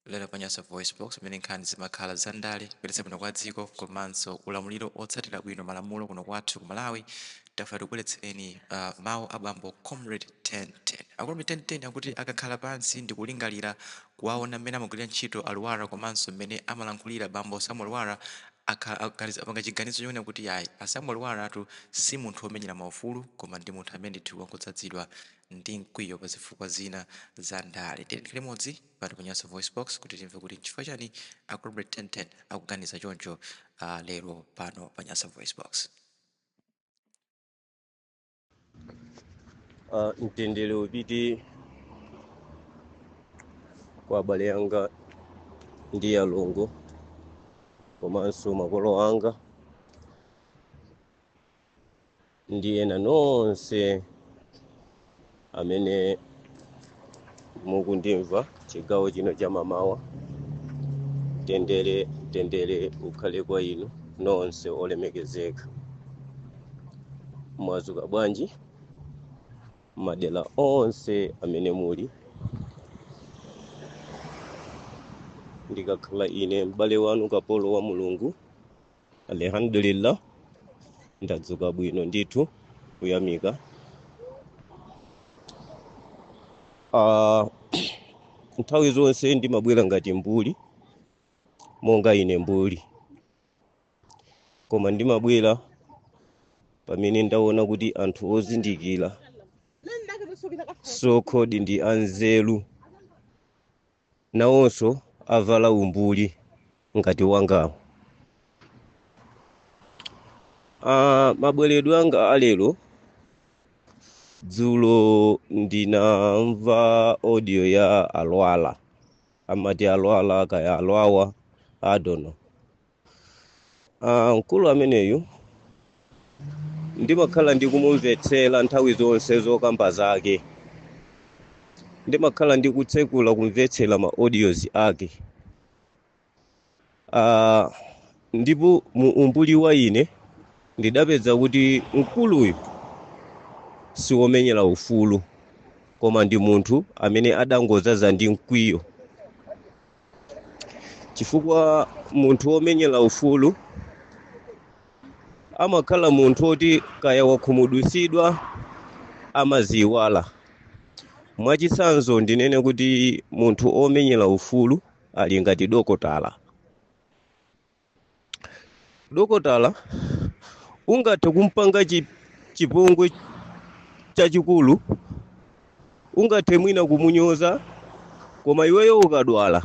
Lero pa Nyasa VoiceBox pamene nkhani zimakhala za ndale, kuyendetsa bwino kwa dziko komanso ulamuliro wotsatira bwino malamulo kuno kwathu ku Malawi, tafuna tikubweretsereni ah, mawu a bambo Comrade 1010. A Comrade 1010 akuti akakhala pansi ndi kulingalira kuwaona mmene amagwirira ntchito a Lwara komanso mmene amalankhulira bambo Samuel Lwara akhala aganiz- apanga chiganizo chonena kuti ayi a Samuel Lwara atu si munthu womenyera maufulu koma ndi munthu amene ndithu wangodzadzidwa ndi mkwiyo pa zifukwa zina za ndale. Tiyeni tikhale limodzi pano pa Nyasa VoiceBox kuti timve kuti n'chifukwa chani a Comrade 1010 akuganiza choncho ah, lero pano pa Nyasa VoiceBox. Ah, mtendere upite kwa abale anga ndi alongo komanso makolo anga ndi ena nonse amene mukundimva chigawo chino cha mamawa mtendere mtendere ukhale kwa inu nonse olemekezeka mwazuka bwanji madera onse amene muli ndikakhala ine m'bale wanu kapolo wa mulungu Alhamdulillah, ndadzuka bwino ndithu kuyamika. Ah, nthawi zonse ndimabwera ngati mbuli monga ine mbuli, koma ndimabwera pamene ndaona kuti anthu ozindikira so-called ndi anzeru nawonso avala umbuli ngati wangawo Ah, mabweredwe anga alero dzulo ndinamva audio ya a Lwara amati a Lwara kaya a Lwawa I don't know Ah, mkulu ameneyu ndimakhala ndikumumvetsera nthawi zonse zokamba zake ndimakhala ndikutsekula kumvetsera ma audios ake Ah, ndipo mu umbuli wa ine ndidapeza kuti mkuluyu si womenyera ufulu koma ndi munthu amene adangodzadza ndi mkwiyo chifukwa munthu womenyera ufulu amakhala munthu woti kaya wakhumudwitsidwa amadziyiwala mwachitsanzo ndinene kuti munthu omenyera ufulu ali ngati dokotala dokotala ungathe kumpanga chipongwe chachikulu ungathe mwina kumunyoza koma iweyo ukadwala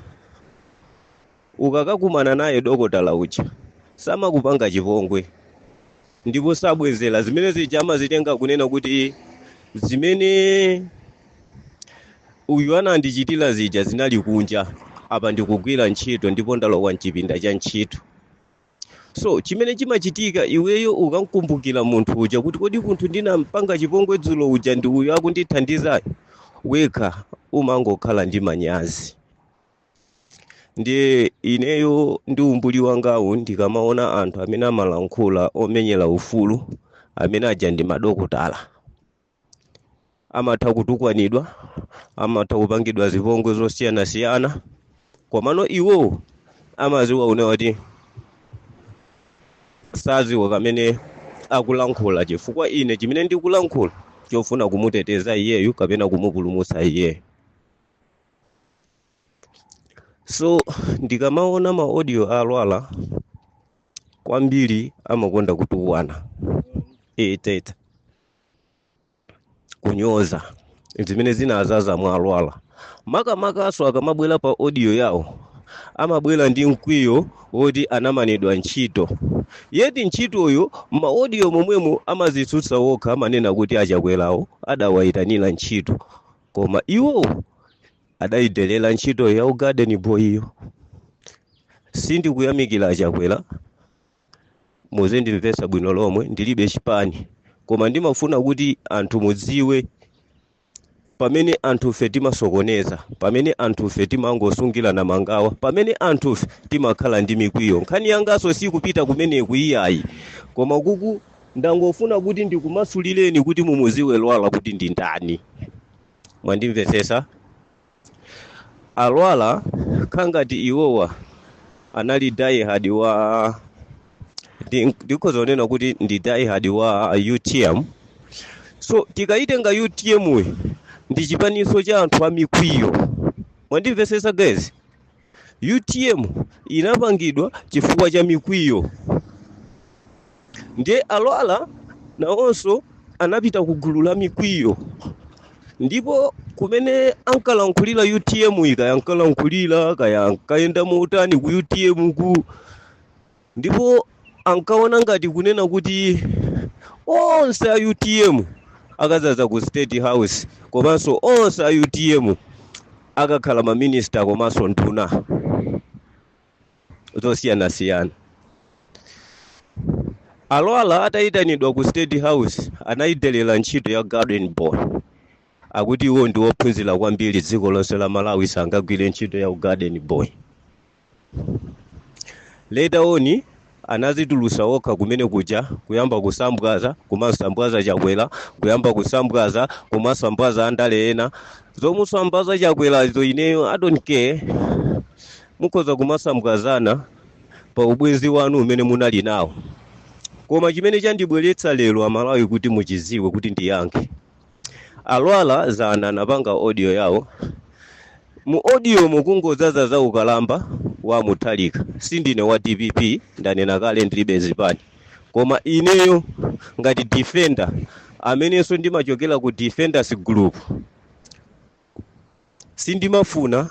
ukakakumana naye dokotala uja samakupanga chipongwe ndipo sabwezera zimene zija amazitenga kunena kuti zimene uyu anandichitira zija zinali kunja apa ndikugwira ntchito ndipo ndalowa mchipinda cha ntchito so chimene chimachitika iweyo ukamkumbukira munthu uja kuti kodi munthu ndinampanga chipongwe dzulo uja ndi uyu akundithandizayo wekha umangokhala ndi manyazi ndiye ineyo ndi umbuli wangawu ndikamaona anthu amene amalankhula omenyera ufulu amene aja ndi madokotala amatha kutukwanidwa amatha kupangidwa zipongwe zosiyanasiyana komano iwo amaziwa kunena kuti saziwa chimene akulankhula chifukwa ine chimene ndikulankhula chofuna kumuteteza iyeyu kapena kumupulumutsa iyeyo so ndikamaona ma audio a Lwara kwambiri amakonda kutukwana eti kunyoza zimene zinazaza mwa a Lwara makamakaso akamabwera pa audio yawo amabwera ndi mkwiyo woti anamanidwa ntchito yeti ntchitoyo ma audio momwemo amazitsutsa wokha amanena kuti a Chakwerawo adawayitanira ntchito koma iwo adayidelera ntchito ya u garden boy yo sindikuyamikira a Chakwera muzindimvetsa bwino lomwe ndilibe chipani koma ndimafuna kuti anthu mudziwe pamene anthufe timasokoneza pamene anthufe timangosungirana mangawa pamene anthufe timakhala ndi mikwiyo nkhani yangaso sikupita kumeneku iyayi koma kuku Ndangofuna kuti ndikumasulireni kuti mumuziwe Lwara kuti ndi ndani. Mwandimvetsetsa? A Lwara kangati iwowa anali die hard wa ndikhoza kunena kuti ndi die hard wa UTM. So tikayitenga UTM yi ndi chipaninso cha anthu amikwiyo. Mwandimvetsetsa guys? UTM inapangidwa chifukwa cha mikwiyo ndiye a Lwara nawonso anapita ku gulu la mikwiyo ndipo kumene ankalankhulira UTM yi kaya ankalankhulira kaya ankayenda motani ku UTM ku ndipo ankaona ngati kunena kuti onse a utm akadzaza ku state house komanso onse a utm akakhala maminista komanso nduna zosiyanasiyana alwala atayitanidwa ku state house anayidelera ntchito ya garden boy akuti iwo ndi wophunzira kwambiri dziko lonse la malawi sangagwire ntchito ya ugarden boy Later on anazitulusa okha kumene kuja kuyamba kusambwaza kumasambwaza chakwera kuyamba kusambwaza kumasambwaza andale ena zomusambwaza chakwerazo ineyo i don't care mukhoza kumasambwazana pa ubwenzi wanu umene munali nawo koma chimene chandibweretsa lero amalawi kuti muchiziwe kuti ndiyankhe Alwala zana anapanga audio yawo mu audio mukungodzaza za ukalamba wa Mutharika. Sindine wa dpp ndanena kale ndilibe zipani. Koma ineyo ngati defender amenenso ndimachokera ku defenders group Sindimafuna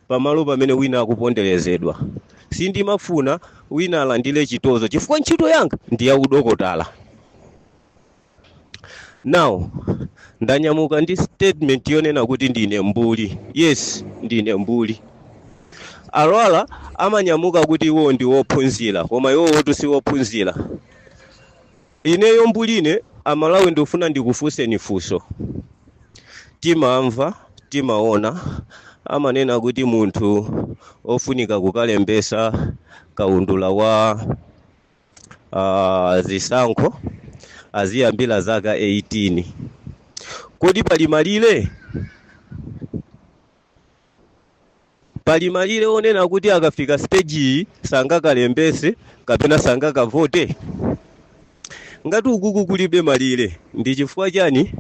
pamalo pamene wina akuponderezedwa. Sindimafuna wina alandire chitonzo chifukwa ntchito yanga ndi ya udokotala. Now, ndanyamuka ndi statement yonena kuti ndine mbuli. Yes, ndine mbuli. Alwala amanyamuka kuti iwo ndi wophunzira, koma iwowotu si wophunzira. Ineyo mbuline amalawi ndufuna ndikufunseni funso timamva timaona amanena kuti munthu ofunika kukalembesa kaundula wa uh, zisankho aziyambira zaka 18 kodi pali malire Pali malire onena kuti akafika stage iyi sangakalembese kapena sangakavote? Ngati ukuku kulibe malire ndi chifukwa chani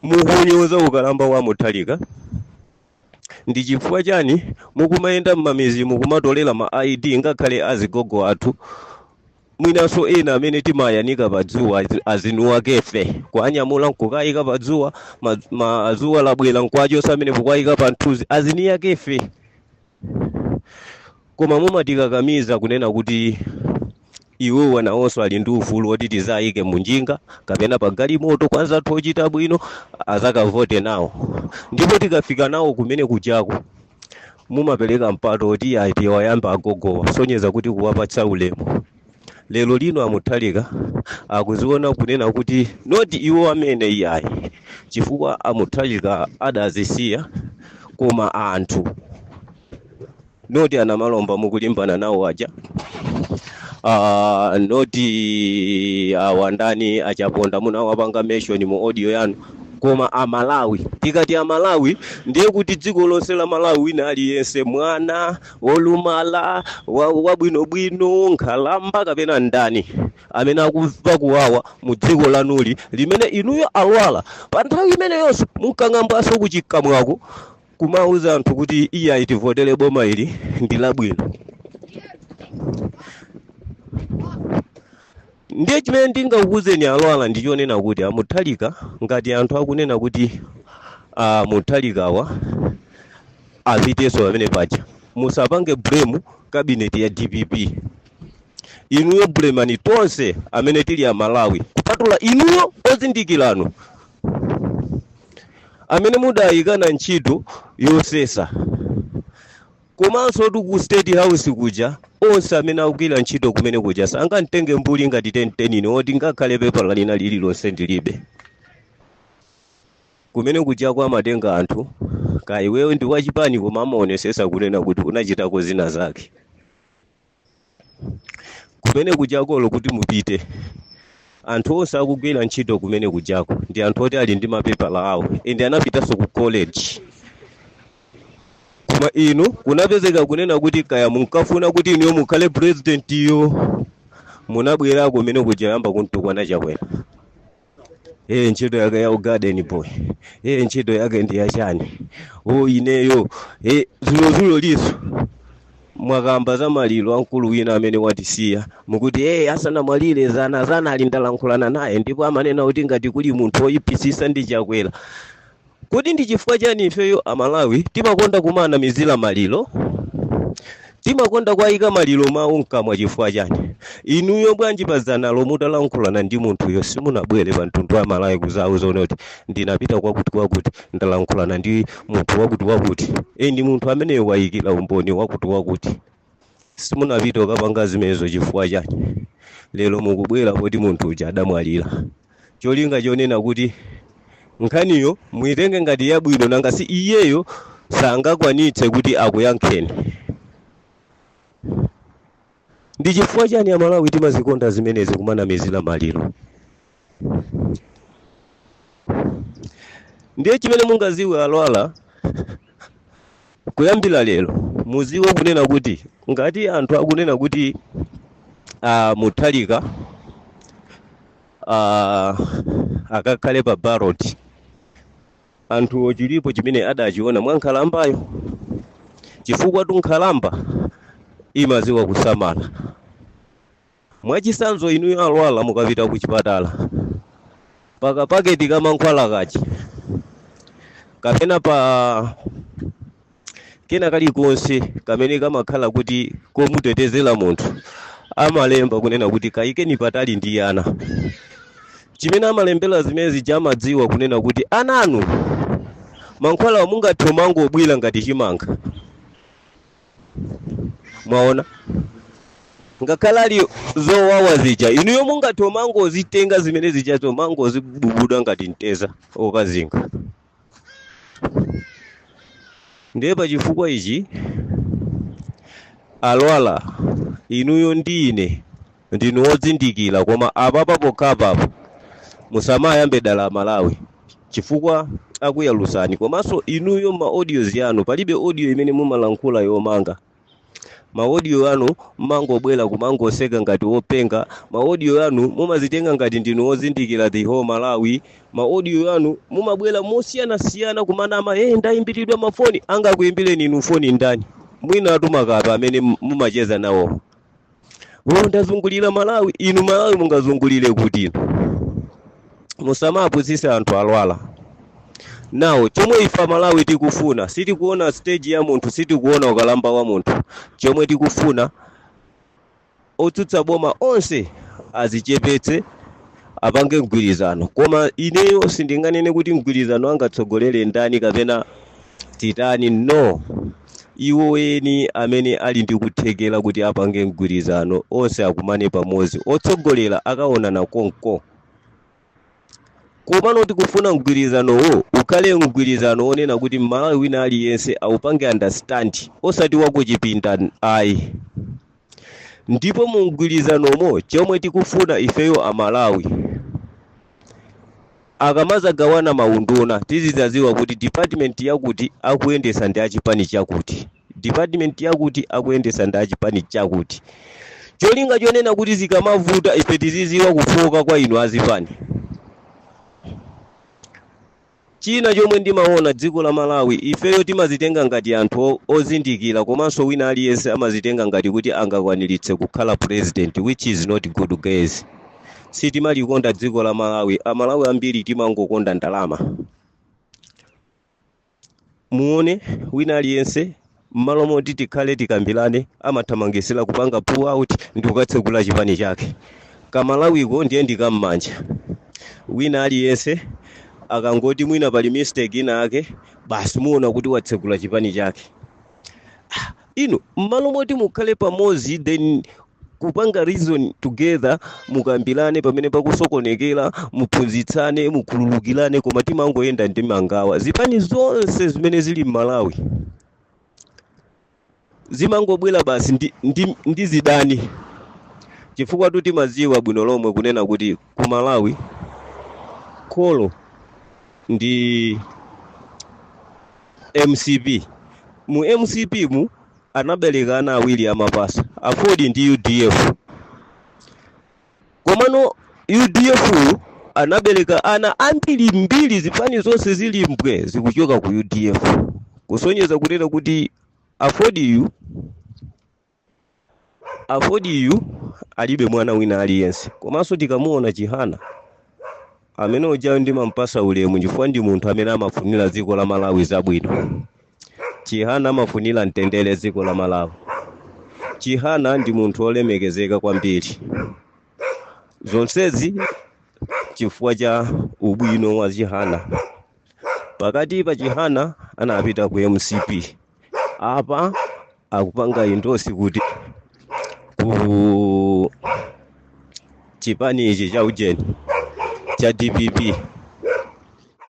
mukunyoza ukalamba wa Mutharika? Ndi chifukwa chani mukumayenda m'mamizi mukumatolera ma ID ngakhale azigogo athu? Mwinanso ena amene timayanika pa dzuwa azi- aziniwakefe kuwanyamula nkukayika pa dzuwa ma- ma- dzuwa labwera nkuachosa amene kukawayika pa mthunzi aziniyakefe koma mumatikakamiza kunena kuti iwo nawonso ali ndi ufulu woti tizawayike munjinga kapena pa galimoto kwa anzathu ochita bwino azakavote nawo ndipo tikafika nawo kumene kujako mumapereka mpata oti ayi tiwayambe agogowa kusonyeza kuti kuwapatsa ulemu lero lino amuthalika akuziona kunena kuti noti iwo amene iyayi chifukwa amuthalika adazisiya koma anthu noti anamalomba mukulimbana nawo aja uh, noti awandani achaponda munawapanga mention mu audio yanu koma amalawi tikati amalawi ndiye kuti dziko lonse la malawi wina aliyense mwana wolumala wa- wabwinobwino nkhalamba kapena ndani amene akumva kuwawa mu dziko lathuli limene inuyo alwala pa nthawi imeneyonso munkang'ambaso kukamwako kumauza anthu kuti iyayi itivotele boma ili ndi labwino ndiye chimene ndingakuuzeni alwala ndichonena kuti amuthalika ngati anthu akunena kuti uh, muthalikawa apitenso pamene paja musapange blame kabineti ya dpp inuyo bulemani tonse amene tili amalawi kupatula inuyo ozindikiranu amene mudayikidwa ntchito yosesa komansotu ku state house kuja onse amene akugwira ntchito kumene kuja sangamtenge mbuli ngati tentenine oti ngakhale pepala lina lililonse ndilibe kumene kujako amatenga anthu kaya iweyo ndi wachipani koma amaonesesa kunena kuti unachitako zina zake kumene kujako olo kuti mupite anthu onse akugwira ntchito kumene kujako ndi anthu oti ali ndi mapepala awo ende anapitanso ku college koma inu kunapezeka kunena kuti kaya munkafuna kuti inuyo mukhale presidentiyo munabwerako kumene kuja kuyamba kuntukwana chakwera Eh, ntchito yake ya ugarden boy eh, ntchito yake ndi yachani o ineyo eh, zulozuloliso mwakamba za maliro a mkulu wina amene watisiya mukuti eh, asanamwalire zanazanali ndalankhulana naye ndipo amanena kuti ngati kuli munthu oyipisisa ndi chakwera Kodi ndi chifukwa chani ifeyo a Malawi timakonda kumaanamizira maliro? Timakonda kuayika maliro mawu mkamwa chifukwa chani? Inuyo bwanji pa dzanalo mutalankhulana ndi munthuyo simunabwere pa mtundu wa Malawi kuzauza zoti kuti ndinapita kwakuti kwakuti ndalankhulana ndi munthu wakuti wakuti and munthu ameneyo waikira umboni wakuti wakuti? Simunapite kukapanga zimenezo chifukwa chani? Lero mukubwera poti munthu uja adamwalira. Cholinga chonena kuti nkhaniyo muitenge ngati yabwino nanga si iyeyo sangakwanitse kuti akuyankheni. Ndi chifukwa chani Amalawi timazikonda zimenezi kumanamizira maliro? ndiye chimene mungaziwe alwala kuyambira lero muziwe kunena kuti ngati anthu akunena kuti uh, Mutharika uh, akakhale pa ballot anthuwo chilipo chimene adachiona mwa nkhalambayo chifukwa tu nkhalamba imaziwa kusamala Mwachisanzo inuyo alwala mukapita kuchipatala pakapaketi ka mankhwala kaja kapena pa kena kalikonse kamene kamakhala kuti komutetezera munthu amalemba kunena kuti kayikeni patali ndi ana chimene amalembera zimenezi amadziwa kunena kuti ana inu mankhwalawa mungathe umangobwira ngati chimanga mwaona ngakhale ali zowawa zija inuyo mungathe umangozitenga zimene zijazo kumangozibubuda ngati mteza okazinga ndiye pa chifukwa ichi alwala inuyo ndi ine ndinu ozindikira koma apapa pokhapapa musamayambe dala amalawi chifukwa akuyalusani komanso inuyo ma audios yanu palibe audio imene mumalankhula yomanga ma audio anu mmangobwera kumangoseka ngati openga ma audio anu mumazitenga ngati ndinu ozindikira the whole malawi ma audio anu mumabwera mosiyanasiyana kumanama hey, ndayimbiridwa mafoni angakuyimbireni inu foni ndani mwina atumakapa amene mumacheza nawo uyu ndazungulira malawi inu malawi mungazungulire kuti inu musamapusise anthu alwala nawo chomwe ife amalawi tikufuna sitikuona stage ya munthu sitikuona ukalamba wa munthu chomwe tikufuna otsutsa boma onse azichepetse apange mgwirizano koma ineyo sindinganene kuti mgwirizano angatsogolere ndani kapena titani no Iwo eni amene ali ndi kuthekera kuti apange mgwirizano onse akumane pamodzi. Otsogolera akaonana konko. Komano tikufuna mgwirizanowo ukhale mgwirizano onena kuti Mmalawi wina aliyense aupange understand osati wakuchipinda ayi. ndipo mu mgwirizanomo chomwe tikufuna ifeyo amalawi akamazagawana maunduna tizizaziwa kuti department yakuti akuyendesa ndi achipani chakuti department yakuti akuyendesa ndi achipani chakuti cholinga chonena kuti zikamavuta ife tiziziwa kufooka kwa inu azipani China chomwe ndimaona dziko la Malawi ifeyo timazitenga ngati anthu ozindikila komanso wina aliyense amazitenga ngati kuti angakwanilitse kukhala president which is not good guys sitimalikonda dziko la Malawi amalawi ambiri timangokonda ndalama muone wina aliyense Mmalo moti tikhale tikambilane amathamangisila kupanga pull out ndikukatsegula chipani chake. Ka Malawiko ndiye ndi ka mmanja. Wina aliyense akangoti mwina pali mistake ina yake basi muona kuti watsegula chipani chake. Inu mmalo moti mukhale pamodzi then kupanga reason together mukambirane pamene pakusokonekera muphunzitsane mukhululukirane koma timangoyenda ndi mangawa zipani zonse zimene zili m'malawi zimangobwera basi ndi zidani chifukwa tu timadziwa bwino lomwe kunena kuti ku malawi kholo ndi mcp mu mcp mu anabereka ana awiri amapasa aford ndi udf komano udf yu anabereka ana ambiri mbiri zipani zonse zili mbwe zikuchoka ku udf kusonyeza kunena kuti aford yu alibe mwana wina aliyense komanso tikamuona chihana amene uja ndimampasa ulemu chifukwa ndi munthu amene amafunira dziko la malawi zabwino Chihana amafunira mtendere dziko la Malawi. Chihana ndi munthu olemekezeka kwambiri. Zonsezi chifukwa cha ubwino wa Chihana. Pakati pa Chihana anapita ku MCP. Apa akupanga endorse kuti ku chipani ichi cha ujeni cha DPP